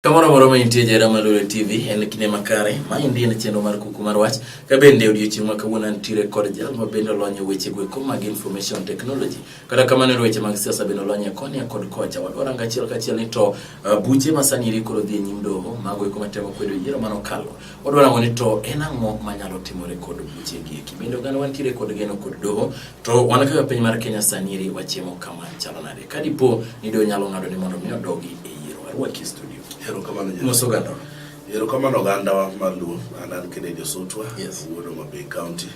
Kamoro moro ma intie jera ma Lule TV en kinde makare. Ma endi en chenro mar kuku mar wach. Ka bende odiochieng' ma kawuono antiere kod jal ma bende olony e weche gweko mag information technology. Kata kamano e weche mag siasa bende olony e koni kod kocha. Wadwaro anga achiel kachiel ni to uh, buche ma sani iri koro dhi e nyim doho mago eko matemo kwedo yiero mano kalo. Wadwaro ang'o ni to en ang'o manyalo timore kod buche gi eki. Bende oganda wantiere kod geno kod doho To wan kaka piny mar Kenya sani eri wachimo kama chalo nade? Ka dipo ni do nyalo ng'ado ni mondo mi odogi e yiero, arwaki e studio. Erokamano Jehova. Mos oganda. Erokamano ogandawa mar Luo. An an Kennedy Osotwa, Yes. wuod Homa Bay County,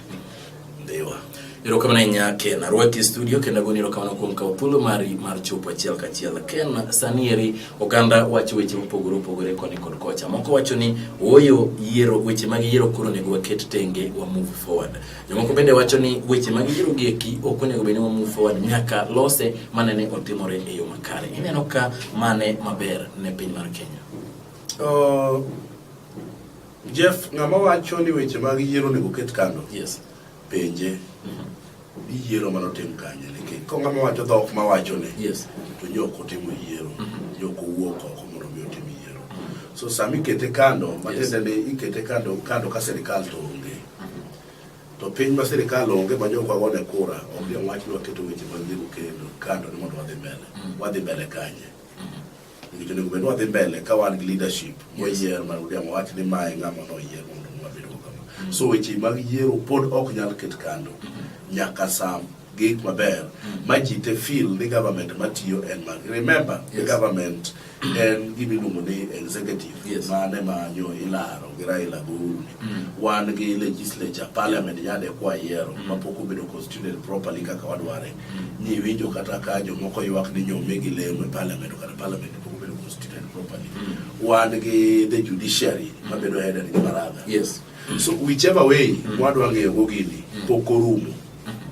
Ndhiwa. Erokamano ahinya Ken, arwaki e studio kendo agoni erokamano kuom kawo thuolo mari mar chopo achiel kachiel. Ken, sani eri oganda wacho weche mopogore opogore koni kod kocha. Moko wacho ni ooyo yiero weche mag yiero koro onego waket tenge wa move forward. Jomoko bende wacho ni weche ma giyiro gi eki ok onego bed ni wa move forward nyaka lose mane ne otimore e yo makare. Ineno ka mane maber ne piny mar Kenya. Uh, Jeff, ng'ama wacho ni weche mag yiero onego ket kando. Yes. Penje. Mm -hmm iyiero mana otim kanye nikech ka ng'ama wacho dhok ma wacho ne yes. to ji ok otimo yiero mm -hmm. ji ok owuok oko mondo mi otim yiero mm -hmm. so sama ikete kando matiende yes. ni ikete kando kando ka sirikal to onge To piny ma sirkal onge ma jokwa gone kura, onge wach ni waketo weche mag dhigo kendo kando ni mondo wadhi mbele. Mm. Wadhi mbele kanye? Nikech onego bed ni wadhi mbele ka wan gi leadership moyier ma Odiang wach ni mae ng'ama noyier mondo wabed go kama. Mm. So weche mag yiero pod ok nyal ket kando mm-hmm. nyaka sam gik maber mm. ma ji te feel ni government matiyo en mag remember yes. the government en gima iluongo ni executive yes. mane manyo ilaro gi Raila Guru mm. wan gi legislature parliament yeah. yande kwa yiero mm. mapok obedo constituted properly kaka wadware mm. ni winjo kata ka jomoko ywak ni nyome gi lemo e parliament kata parliament pok obedo constituted properly mm. wan gi the judiciary mm. mabedo headed gi baraza yes. mm. so whichever way mm. wadwa ng'eyo go gini mm. pok orumo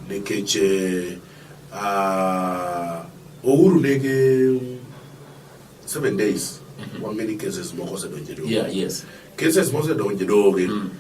Nikech eh, ah, Ouru nigi seven days mm-hmm. wang'e ni cases moko osedonjo e doho. Yeah, yes. Cases mosedonjo e doho gi mm.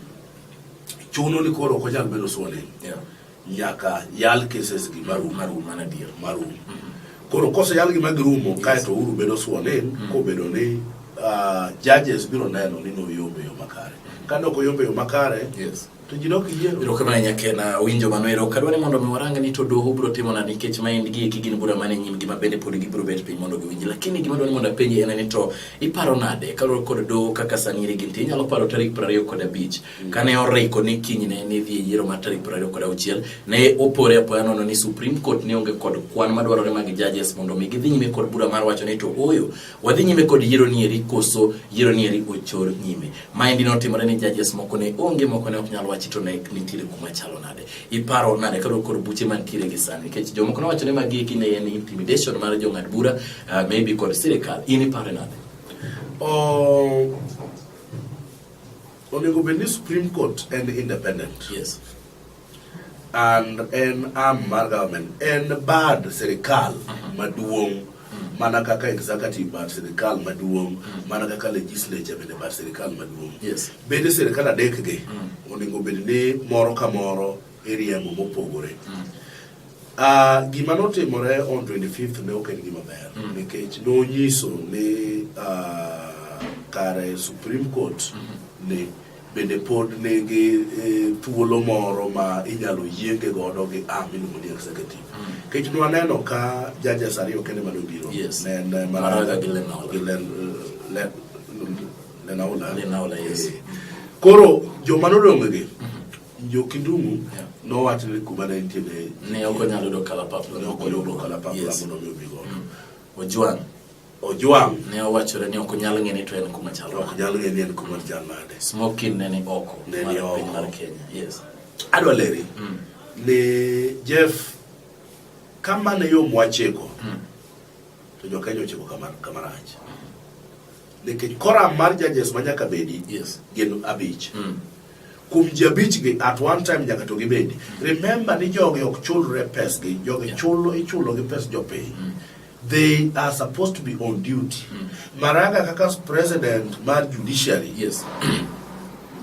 chuno ni koro ok onyal bedo sworn in. Yeah. Nyaka yal cases gi marum. Marum, mano adier. Marum. Mm-hmm. Koro koseyal gi magirumo kae to Ouru bedo sworn in mm-hmm. kobedo ni ah, judges biro neno ni noyombe yo makare. Ka ne ok oyombe yo makare, Yes. To ji dok yiero. Ero kamano nyakena winjo mano ero kadwa ni mondo mi warang ni to doho biro timo na nikech ma en gi eki gin bura mane nyim gima bende pod gibiro bet piny mondo giwinji lakini gima dwa ni mondo apenji en ni to iparo nade kaluwore kod doho kaka sani iri ginti inyalo paro tarik piero ariyo kod abich mm. kane oriko ni kinyne ne dhi e yiero mar tarik piero ariyo kod auchiel ne opore apoya nono ni Supreme Court ne onge kod kwan madwarore mag judges mondo mi gidhi nyime kod bura mar wacho ni to oyo Wadhi nyime kod yiero nieri koso yiero nieri ochor nyime. Maendi notimore ni judges moko ne onge moko ne ok nyal wachi to ne nitiere kuma chalo nade. Iparo nade kado kod buche mantiere gi sani nikech jomoko nowacho ni magi eki ne en intimidation mar jong'ad bura uh, maybe kod sirikal. In iparo nade? Oh, onego bed ni Supreme Court en independent. Yes. and en arm mar government en bad sirikal mhm. maduong' mhm. mana kaka executive bad sirikal maduong' mhm. mana kaka legislature bende bad sirikal maduong' yes. bende sirikal adek gi onego bed ni moro ka moro iriemo mopogore Uh, gima notimore on 25th ne ok en gima ber mm. nikech nonyiso ni uh, kare Supreme Court mm -hmm. ni Bende pod nigi e, thuolo moro ma inyalo yienge godo gi am miluongo ni executive. Mm. Kech nwaneno ka judges ariyo kende mane obiro. Yes. Ne en eh, Maraga gi Lenaola. Gi Len, le, Lenaola. Lenaola, yes. E, koro joma nodong' gi mm-hmm. jo Kindungu yeah. nowach ni kuma ne nitie ne ne ok onyalo yudo kalapapla ne ok oyudo kalapapla mondo mi obi godo. Mm. Ojwang' Ojwang' ne owachore ni ok onyal ng'e ni to en kuma chal nade. Ok nyal ng'e ni en kuma chal nade. Smoking ne ni oko. Ne ni oko. Piny mar Kenya. Yes. Adwa leri. Mm. Ni Jeff kama ne yo mwachiko. Mm. To jo Kenya ochiko kama kama rach. Mm. Nikech koram mar judges ma nyaka bedi. Yes. Gin abich. Mm. Kuom ji abich gi at one time nyaka to gibedi. Mm. Remember ni jogi ok chulre pes gi. Jogi yeah. chulo ichulo gi pes jopiny. Mm. they are supposed to be on duty mm. Maraga kaka president mar judiciary yes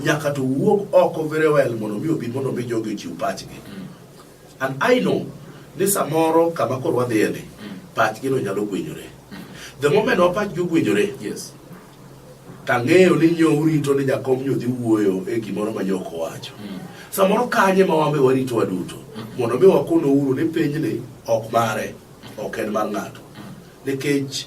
nyaka to wuog oko very well mondo mi obi mondo mi jogi ochiw pachgi mm. and I know ni samoro kama koro wadhiye ni mm. pachgi no nyalo gwenyore mm. the moment wa pachgi ogwenyore yes tang'eyo ni nyo urito ni jakom nyo dhi wuoyo e gimoro ma nyoko wacho mm. samoro kanye ma wambe warito waduto mm. mondo mi wakono uru ni pinyni ok mare ok en mar ng'ato nikech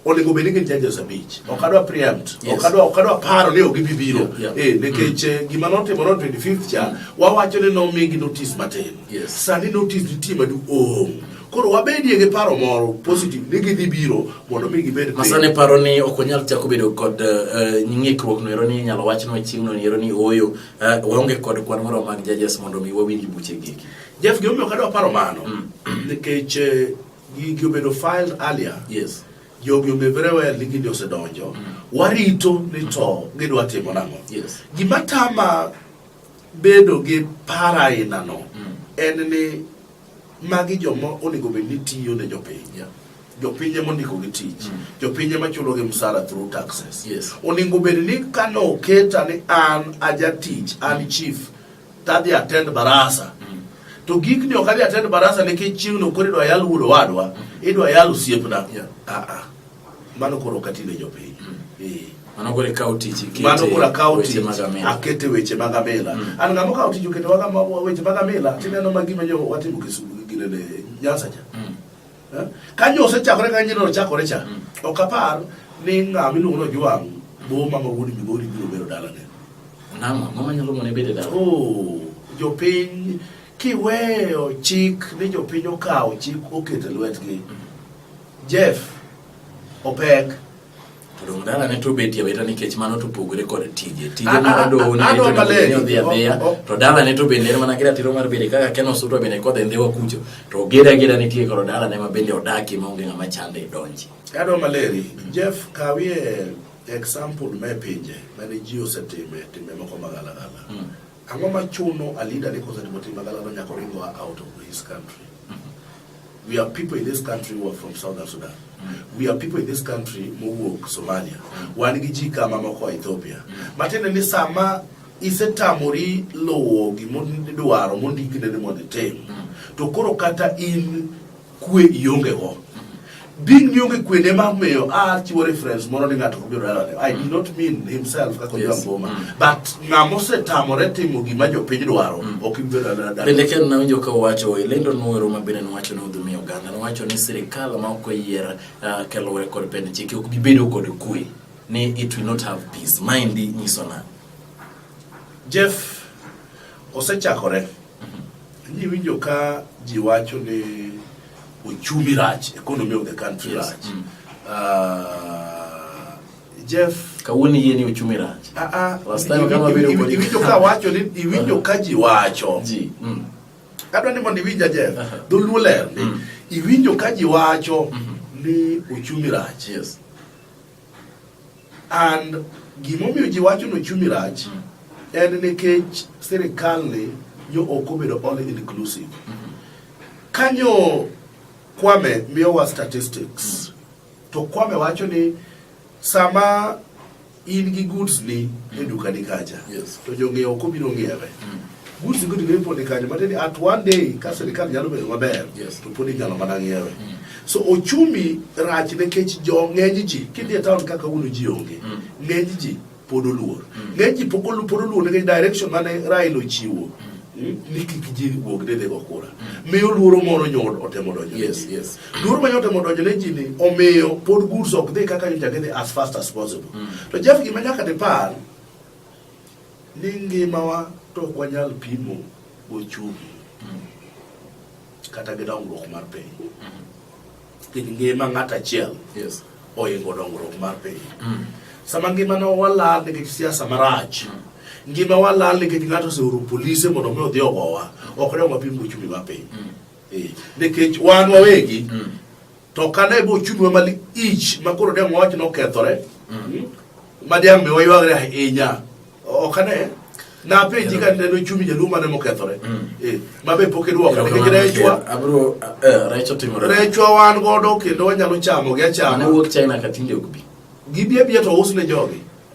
onego bed ni gin judges abich ok adwa preempt ok adwa ok adwa paro ni ok gibi biro eh nikech mm. eh, gima notimore on 25th cha wawacho ni nomigi notice matin sani notice nitie maduong' oh. koro wabedie gi paro moro positive ni gidhi biro mondo mi gibed masane paro ni ok onyal chako bedo kod eh, ng'ikruok no ero ni inyalo wach no chieng'no ni ero ni ooyo eh, waonge kod kwan moro mag judges mondo mi wawinj buche gigi Jeff, gimomiyo kadwa paro mano mm. nikech eh, gigi obedo filed earlier. Yes. Jogi onge very well ni gini osedonjo. Mm. Warito ni to gidwa timo nang'o. Yes. Gima tama bedo gi para aina no mm. en ni magi joma onego bed ni tiyo ne jopiny. Yeah. jopinje mondiko gi tich mm. jopinje machulo gi msara through taxes yes. oningo bed ni kano oketa ni an ajatich an chief tadhi attend barasa mm. to gik ni ok adhi attend barasa nikech chieng' no koro idwa yal wuod owadwa mm. idwa yal osiepna yeah. ah, ah. mano koro ok atine jopiny mm. eh. mano koro ikawo tich mano koro akawo tich akete weche mag amila mm. an ng'ama okawo tich oketo weche mag amila tineno ma gima jo watimo kisugu ginene nyansa cha mm. Eh? Ka jo osechakore ka nyiri ochakore cha, mm. ok apar ni ng'ama iluongo ni Ojwang' boma ma wuod Migori biro bedo dalane. Nang'o? Ang'o manyalo mone bedo dala? Oh, jopiny kiweyo chik ni jopiny okawo chik oketo e lwetgi. Mm. Jeff, opek. Dala ne to betie weta nikech mano to pogore kod tije. Tije ah, mar ah, doho ah, ne to odhi adhiya. Oh, oh. To dala ne to bende en mana gira tiro mar bere kaka keno sutwa bende kod e ndhewa kucho. To gira gira nitie kod dala ne ma bende odaki ma onge ng'ama chande e donji. Adwa maleri, Jeff kawie example me pinje mane ji osetime timbe moko magalagala. Hmm. Ang'o machuno Alinda ni kosetimo timbe magalagala nyaka oringo out of his country? We have people in this country who are from Southern Sudan. Mm. We have people in this country mowuok Somalia. Mm. Wan gi ji kama moko Ethiopia. Mm. Matiende ni sama isetamori luwo gimidwaro mondikine ni mondo itim, to koro kata in kwe iongego. Din mionge kwede ma miyo a ah, chiwo reference moro ni ng'ato kobiro dalane. I do not mean himself kaka ojo angoma. Mm. But ng'ama osetamore timo gima jopiny dwaro mm. ok ibiro dalane. Bende ken nawinjo ka owacho e lendo nwero ma bende nowacho ni odhumi oganda nowacho ni sirikal ma ok oyier ah, kaluwore kod pend chike ok bibedo kod kwe ni it will not have peace. Maendi nyiso na. Jeff osechakore. Niwinjo ka ji wacho ni uchumi rach, economy of the country yes. rach. Mm. Uh, Jeff kawuono yie ni uchumi rach. Ah ah. Last time kama vile uko iwinjo ka wacho ni iwinjo ka ji wacho. Ji. Mm. Adwa ni mondo iwinja Jeff. Uh -huh. Dholuo ler ni mm. iwinjo ka ji wacho mm -hmm. ni uchumi rach. Yes. and gimomiyo ji wacho ni ochumi rach mm. en nikech sirikal ni nyo ok obedo all inclusive mm-hmm. kanyo Kwame miyowa statistics mm. to Kwame wacho ni sama in gi goods ni e dukani kacha to jong'iewo ok obiro ng'iewe Goods go to be put kanyo but at one day ka sirkal nyalo bedo maber yes. to podi nyalo mana ng'iewe mm. so ochumi rach nikech jo ng'eny ji kidhi e town kaka uno ji onge mm. ng'eny ji pod oluor mm. ng'eny ji pod oluor nikech direction mane Raila ochiwo mm. ni kik ji wuog ne dhego kura miyo luoro moro nyod otemo donjo yes yes luoro ma otemo donjo ne ji ni omiyo pod goods ok dhi kaka nyocha gidhi as fast as possible mm. to Jeff gima nyaka dipar ni ngimawa to ok wanyal pimo gochumi kata gi dongruok mar piny nikech ngima ng'ato achiel Yes. oingo dongruok mar piny Mm. sama ngimana walal nikech siasa marach ngima walal nikech ng'ato oseoro polise mondo mi odhi ogowa ok dong wapim gochumi mar piny Eh, nikech wan wawegi Mm. To kane bo chunwa mal ich ma koro dem wach nokethore. Mm. Ma dem be waywagre ahinya. Ok ane na penji ka neno chumi jaluo mane mokethore mm. eh, ma be pok idwoko nikech rechwa eh, rechwa wan godo kendo wanyalo chamo gi achama gibi abiya to usne jogi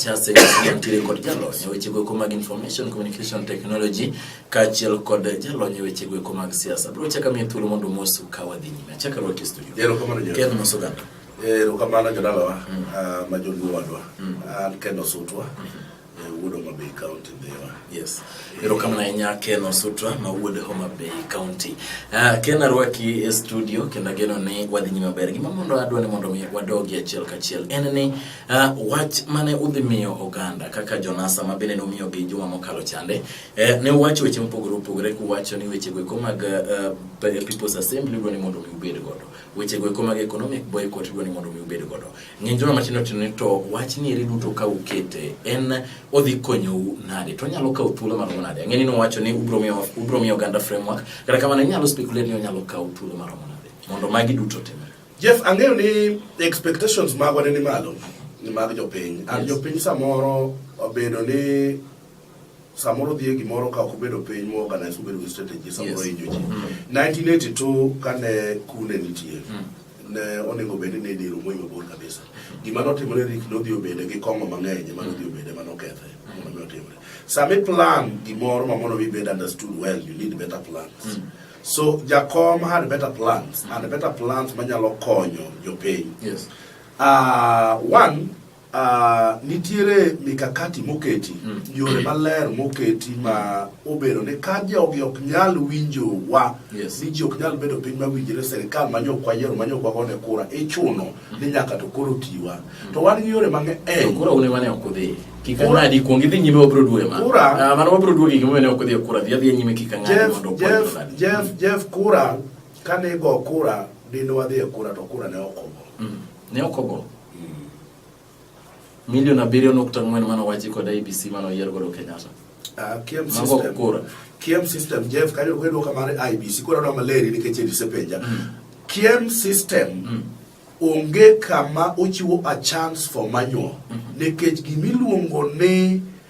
Chase mantiere kod jalony e wechego eko mag information communication technology kaachiel kod jalony e wechego eko mag siasa. Bro chaka miye thuolo mondo mosu ka wadhi nyime. Achaka rwaki studio. Ken mosoganda. Eh, erokamano jodalawa mm. ah, ma joluo wadwa mm. an kendo sutwa mm-hmm. eh, wuod Homa Bay County dhiwa. Yes. Erokamano ahinya Ken Osutra ma wuod Homa Bay County. Ah, Ken arwaki e studio kendo ageno ni wadhi nyime maber. Gima mondo adwa ni mondo wadogi achiel kachiel en ni ah, wach mane udhi miyo oganda kaka Jonasa ma bende nomiyo gi juma mokalo chande eh, ne uwacho weche mopogore opogore kuwacho ni weche go mag People's Assembly dwa ni mondo mi ubed godo. Weche go eko mag economic boycott idwa ni mondo mi ubed godo. Ng'eny joma matindo tindo ni to wach ni eri duto ka ukete en odhi konyou nade? To nyalo kawo thuolo maromo nade? Ang'e ni nowacho ni ubro miyo ubro miyo oganda framework. Kata kamano inyalo speculate ni onyalo kawo thuolo maromo nade? Mondo magi duto timre. Jeff, ang'eyo ni expectations magwa ne ni malo ni mag jopiny. An Yes. jopiny samoro obedo ni samoro dhie gimoro ka ok obedo piny mo organize obedo gi strategy samoro yes. injo ji mm. 1982 kane kune nitie mm. ne onego bed ni diro moyo mabor kabisa gima notimore rik nodhi obede gi kong'o mang'eny ema nodhi obede ma nokethe mondo mi otimre sami plan gimoro ma mondo wibed understood well you need better plans mm. so jakom had better plans and better plans manyalo konyo jopiny yes. uh, one Uh, nitiere mikakati moketi mm. yore maler moketi ma obedo ni ka jogi ok nyal winjowa yes. ni ji ok nyal bedo piny mawinjore serikal manyokwa yiero manyokwa gone kura ichuno mm. ni nyaka to koro tiwa mm. to wan gi yore mang'eny eh. kura une wane ok udhi kik ang'adi kuong idhi nyime wabiro duoe ma kura uh, mano wabiro duoe gik mane ok udhi e kura dhi adhiya nyime kik ang'adi mondo Jeff, Jeff, Jeff kura kane go kura dine wadhi e kura to kura ne ok ogo mm. Ne ok ogo. Milion abiriyo nukta ang'wen mane owachi kod IBC mane oyier godo Kenyatta. Ah, kiem Mago system. kura. Kiem system. Jeff, kanyo wedo kamar IBC. Koro na maleri nikech elise penja. Kiem system. Onge kama ochiwo a chance for manual. Nikech gimiluongo ni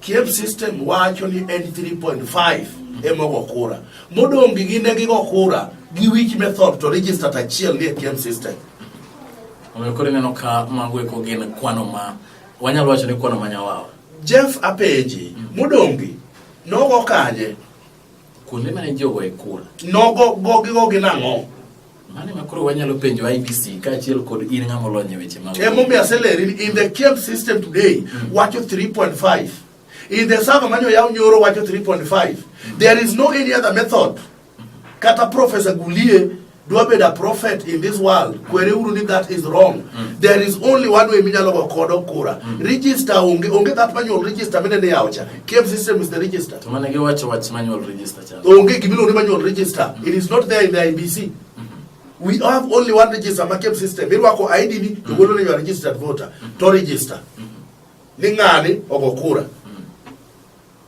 Kiev system wacho ni en 3.5 emogo kura modong' gi gine gigo kura gi wich method to register achiel nie Kiev system omiyo koro ineno ka mago eko gin kwano ma wanyalo wacho ni kwano ma nyawawa Jeff apenji mm. modong' gi nogo kanye kuonde mane jogo e kura nogo gogigo gi nang'o Mane ma koro wanyalo penjo IBC kaachiel kod in ng'ama olony e weche mag. Emomiyo aseleri ni in the KEBS system today mm. wacho 3.5. In the server mane oyaw nyoro wacho 3.5. Mm. There is no any other method. Mm. Kata Professor Gulie dwa bedo a prophet in this world mm. kwere uru ni that is wrong mm. there is only one way minyalo go kodo kura mm. register onge onge that manual register mene ne yawo cha KEBS system is the register to mane giwacho wach manual register Onge gima iluongo ni manual register. It is not there in the IBC. We have only one register ma KEBS system. Irwako ID ni to golo ni you are registered voter to register. Ni ng'ani ogo kura.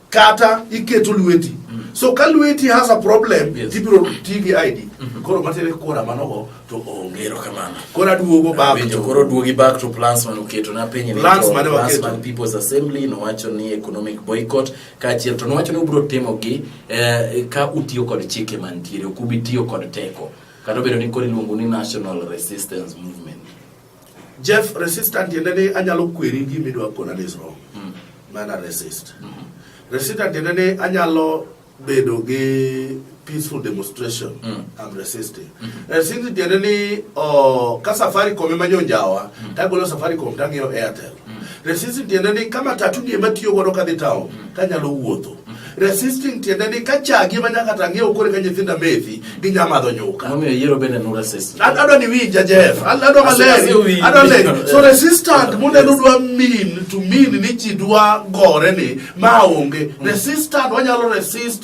Kata iketo lweti. So ka lweti has a problem, Yes. tibiro ti gi ID. Koro matere kura manogo to onge. Ero kamano. Koro aduogo baba. Winjo koro duogi back to plans mane oketo na penye ni Plans to mane plans waketo. mag People's Assembly nowacho ni economic boycott kaachiel to nowacho ni ubiro timogi eh, ka utiyo kod chike mantiere ok ubi tiyo kod teko kata obedo ni koro iluongo ni national resistance movement jeff resistant tiende ni anyalo kweri gima idwa kona ni is wrong mm. mana resist mm -hmm. resistant tiende ni anyalo bedo gi peaceful demonstration mm. I'm resisting mm -hmm. and since generally oh, ka Safaricom ema jonjawa mm. tagolo Safaricom tang'iyo Airtel mm. resisting tiende ni kama tatu ni ema tiyo godo kadhi town mm. kanyalo wuotho mm. resisting tiende ni ka chagi ema nyaka tang'iewo kore ka nyithinda methi gi nyamadho nyuka momiyo yiero bende no resist adwa ni winja Jeff adwa maler adwa le so resistant munde dwa mean to mean ni ji dwa gore ni ma onge mm. resistant wanyalo resist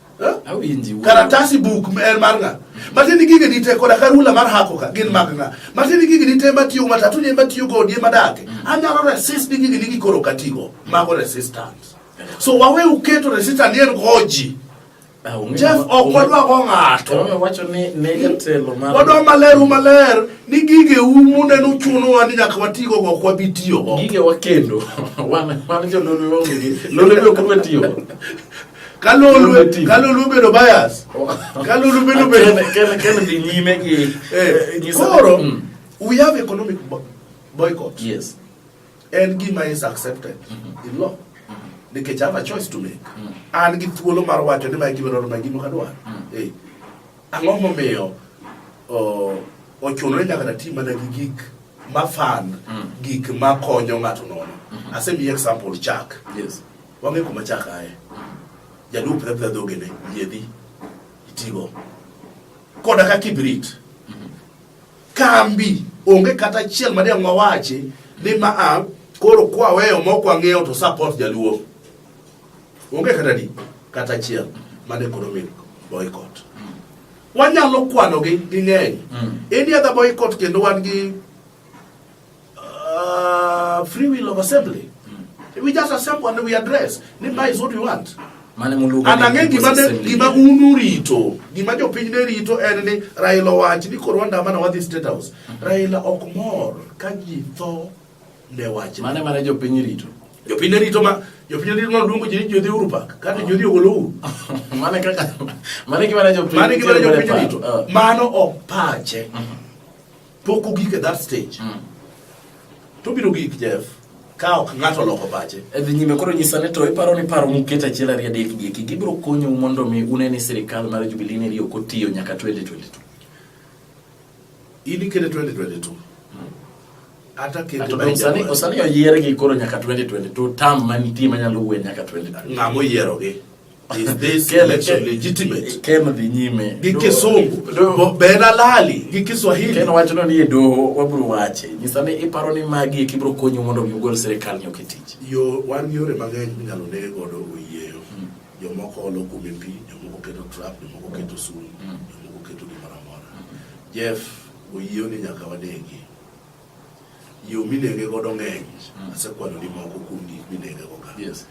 karatasi buk en mar ng'a matiende gige dite koda karula mar hako ka gin mag ng'a matiende gige dite matiyo matatu ne matiyo go die madake mm. anyalo resist ni gige nigi koro katigo mago resistance so wawe uketo resistance yen goji ah, Jeff ok wadwa go ng'ato wadwa maler u maler ni gige u munde nuchunowa ni nyaka watigo go ok wabi tiyo go gige wakendo wan wan jololo onge lolo biro koro tiyo kalulu bedo bias kalulu bedo bedo kene dhi nyime gi eh, eh, koro mm. we have economic boycott yes en gima is accepted mm-hmm. in law mm-hmm. nikech have a choice to make mm. an gi thuolo mar wacho ni mae gimoro ma gimo kadwar mm. eh, ang'o momiyo ochunore nyaka na tim mana gi gik mafan gik makonyo ng'ato nono mm-hmm. asemiye example chak yes Wang'e kuma chak aye. Jaduo pidha pidha dhogene, yiedhi, itigo. Koda ka kibrit. Kambi, onge kata achiel ma deng' wawachi ni ma a koro kwaweyo mok wang'eyo to support jaluo. Onge kata di, kata achiel ma ne koro min boycott. Wanyalo kwanogi ging'eny. Mm. Any other boycott kendo wan gi Uh, free will of assembly. Mm. We just assemble and we address. Nimba is what we want. Mane muluga. And again, gima de, gima unu rito. Gima jo piny ne rito en ni Raila wach ni koro wanda mana wadhi state house. Mm -hmm. Raila ok mor ka ji tho ne wach. Mane mane jo piny rito. Jo piny rito ma jopiny ndiri noluongo ji ni jodhi uru pak kata jodhi ogolo uru mane kaka mane gimana jopiny mane gimana jopiny rito mano ok pache Pok ogik at that stage. Mm. To biro gik Jeff ka ok ng'ato oloko pache. E dhi nyime koro nyisa ni to iparo ni paro muket achiel ariyo adek gi eki gibiro konyo mondo mi une ni sirikal mar Jubilee ni riyo kotiyo nyaka 2022. Ili kete 2022. Mm. Ata kete to osani osani oyier gi koro nyaka 2022 tam manitie manyalo wuwe nyaka 2022. Ng'amo yiero gi. Is this election legitimate? Ken dhi nyime gi Kisungu, Ben Alali gi Kiswahili. Ken wacho ni e doho wabiro wache. Nyisa ni iparo ni magi e kibiro konyo mondo mi ugol sirkal nyoke tich. Yo wan yore mang'eny minyalo nege godo oyieyo. Hmm. Jomoko olo kume pi, jomoko keto trap, jomoko keto sum, hmm. jomoko keto gimoro amora. Hmm. Jeff, oyieyo ni nyaka wanegi. Yo minege godo ng'eny, mm. asekwano ni moko kuom gik minege go ka. Yes.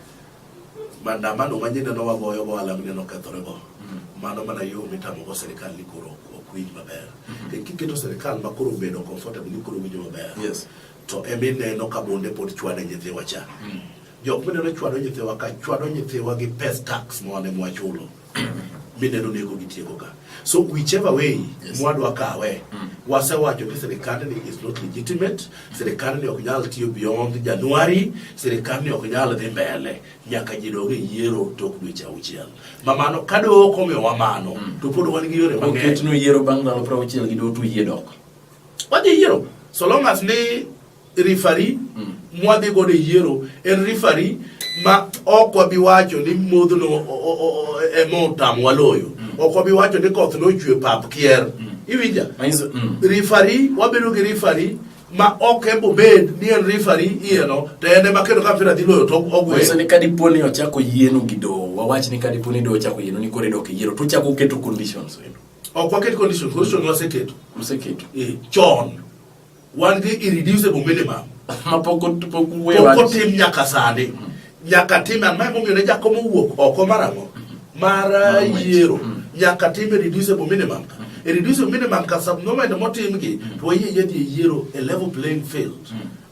Mandamano ma nyine no wagoyo go alam ne nokethore go. Mm. Mano mana yo mitamo go serikal ni koro ok winj maber. Mm-hmm. Kendo kiketo serikal ma koro bedo comfortable ni koro winjo maber. Yes. To emi neno ka bonde pod chwane nyithiwa cha. Mm. Jok mineno chwado nyithiwa ka chwado nyithiwa gi pes tax mwane mwachulo. Mm. mineno nego gitieko ka so whichever way yes. mwadwa kawe mm. wasewacho ni sirikandni is not legitimate sirikandni ok nyal tiyo beyond januari sirikandni ok nyal dhi mbele nyaka ji dog e yiero tok dweche auchiel mamano ka doho ok omiyowa mano mm. to pod wan gi yore mang'enyoketno yiero bang' ndalo prauchiel gi doho to yie dok wadhi yiero so long as ni rifari mm. mwadhi godo e yiero en rifari ma ok wabi wacho ni modhno ema e otam waloyo mm. ok wabi wacho ni koth nochwe pap kier mm. iwinja rifari wabedo gi rifari ma ok embo bed ni en rifari iyeno to en ema kendo ka mpira dhi loyo to ogweyo ni ka dipo ni ochako yieno gi dowo wawach ni ka dipo ni dowo ochako yieno ni koro idok yiero to uchako uketo conditions ok waket conditions condition waseketo waseketo eh, chon wan gi irreducible minimum ma pok ot- pok we pok wach. otim nyaka sani nyaka tim an mae momiyo ne jako mowuok oko mar ang'o mar uh, ng'wech. yiero nyaka tim irreducible minimum ka irreducible minimum ka subnormal motimgi to wayie yadhi e yiero a level playing field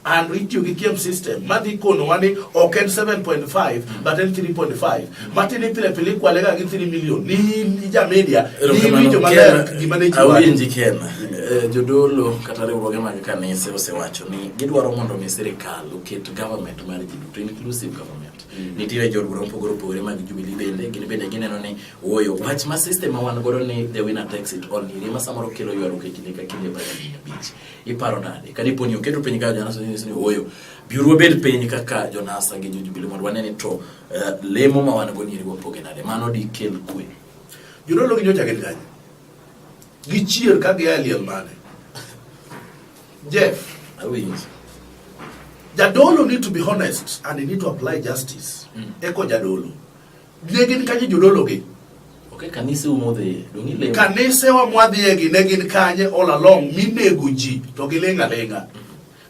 and itiyo gi kiem system madhi konowa ni ok en 7.5 but en 3.5 Martin ni pile pile kwa lega gi 3 million ni ni ja media ni ni jo maler gi mane ji wa nji ken eh, jodolo kata riwruoge mag kanise osewacho ni gidwaro mondo mi sirikal oket government mar ji duto inclusive government mm. nitiere jodolo mopogore opogore mag Jubilee bende gin bende gineno ni woyo wach ma system ma wan godo ni the winner takes it all ni ma samoro kelo ywaruok e kinde ka kinde bang' higni abich iparo nade ka dipo ni oketo piny ka janaso ni woyo biuru wabed piny kaka jonasa gi jo Jubilee mondo wane ni to Eh, lemo ma wan go ni riwo poge nade mano di kel kwe jodolo gi nyocha gin kanye gichier ka gia e liel mane jeff awinjo jadolo need to be honest and he need to apply justice mm. eko jadolo ne gin kanye jodolo gi okay, kanise umodhi dongi lemo kanise wa mwadhiye gi ne gin kanye all along minego ji to gilenga lenga mm.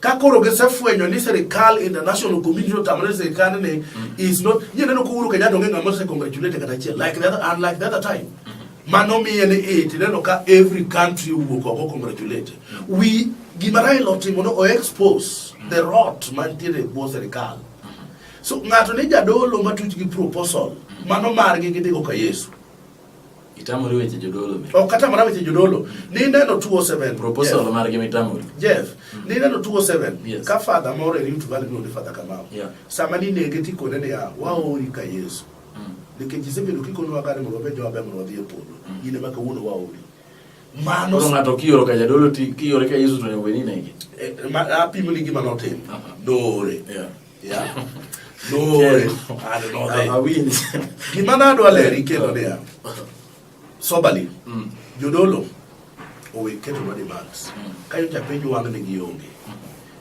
ka koro gisefwenyo ni sirikal international community otamore sirikal ni mm. is not yie neno kuuru kenya donge ng'ama se congratulate kata achiel like the other and like the other time mm-hmm. mano miye ni it neno ka every country wuok oko congratulate mm-hmm. we gima Raila otimo no o expose mm-hmm. the rot mantiere e bwo sirikal so ng'ato ni jadolo matuch gi proposal mano margi gidhigo ka Yesu Itamori weche jodolo be. Ok atamora weche jodolo. Ni neno 207. Proposal Jeff. margi mitamori. Jeff, mm. ni neno 207. Yes. Ka father moro e Rift Valley miluongo ni Father Kamau. Yeah. Sama ninege tikone niya, waori ka Yesu. Mm. Nikech isebedo kikonowa kare mondo wabed joma ber mondo wadhi e polo. Mm. In ema kawuono waori. Mano Koro ng'ato kioro ka jadolo ti kiore ka Yesu to nyaka bed ni inege. Eh, apimo ni gima notimo. Noore. Yeah. Yeah. No, okay. I don't know. They, awin. Gima na dwa leri kelo ne ya. Sobali. Mm. Jodolo. Owe keto na demands. Mm. Kayo cha penjo wang ne gionge. Mm.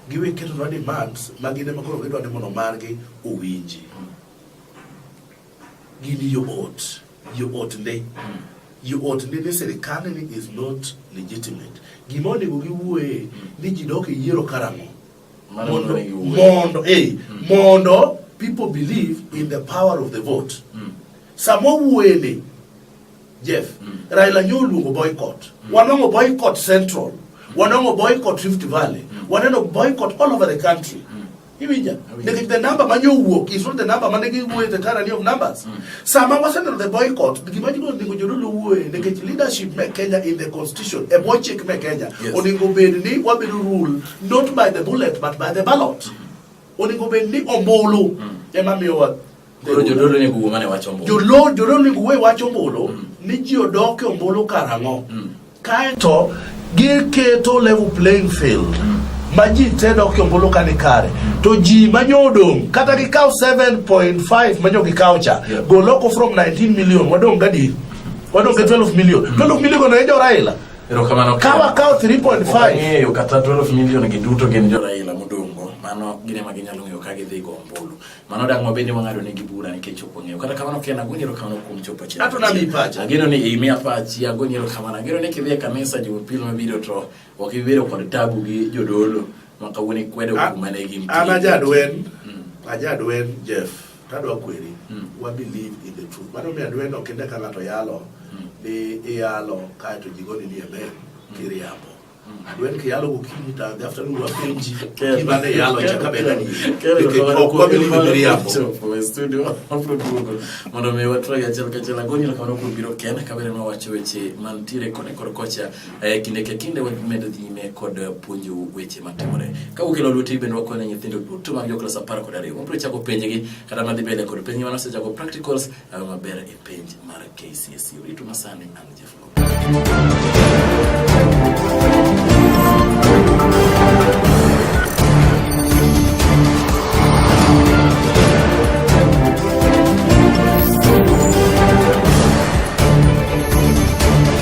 Giwe keto na demands ma gine makoro gidwa ni mono margi owinji. Mm. Gini yo ot. Yo ot ne. Mm. Yo ot ne ne serikali ni is not legitimate. Gima onego giwuoye mm. ni ji dok e yiero karang'o. mondo mondo eh mm. mondo people believe in the power of the vote mm. samo wuele Jeff mm. Raila nyo luongo boycott mm. wanongo boycott central mm. wanongo boycott Rift Valley mm. waneno boycott all over the country mm. Iwinja, nikech the number ma nyo wuok is not the number ma ne giwuoye the current of numbers. Mm. Sama waseneno the boycott, gima jigo ndiko jodolo wuoye nikech leadership me Kenya in the constitution, e bwo chik me Kenya, yes. onego bed ni wabedo rule not by the bullet but by the ballot onego bed ni ombulu ema miyowa Koro jodolo onego wuo mane wacho ombulu. jodolo jodolo onego wuo e wach ombulu ni ji odok e ombulu karang'o kaeto giketo level playing field ma ji te dok e ombulu ka ni kare to ji ma nyo odong' kata gikaw 7.5 ma nyo gikaw cha Yeah. gol oko from 19 million wadong' gadi wadong' gi 12 million 12 million go ne jo Raila Erokamano. Ka wakawo 3.5. Ng'eyo kata 12 million gi duto gin jo Raila modongo. Mano gin ema ginyalo ng'eyo ka gidhi go ombulu. Mano dak ma bende wang'ado negi bura nikech ok wang'eyo. Kata kamano ken agoni erokamano kuom chopo chiro. Ato nami pacha. Ageno ni imiya pachi agoni erokamano. Ageno ni kidhi e kanisa Jumapil mabiro to ok ibiro kod tabu gi jodolo ma kawuono ikwedo kuma ne gin. An ajadwen. Hmm. Ajadwen Jeff. tadwa kweri mm. wa believe in the truth mano mi adweno kinde ka ng'ato yalo mm. ni iyalo kaeto ji goni ni amen mm. kiriambo adwen ke yalo gokinyi ta the afternoon wapenji kibane yalo cha kabela ni mondo mi watwagi achiel kachiel agoni erokamano kuom biro ken kabere nwawacho weche mantiere kone kor kocha E kinde ka kinde wamedo dhi nyime kod puonjou weche matimore. Ka ukelo lweti bende wakonyo nyithindo duto mag joklas apar kod ariyo. Wabiro chako penjgi kata madhi mbele kod penj mane osechako practicals awe maber e penj mar KCSE. Uritu masani an Jeff Thank you.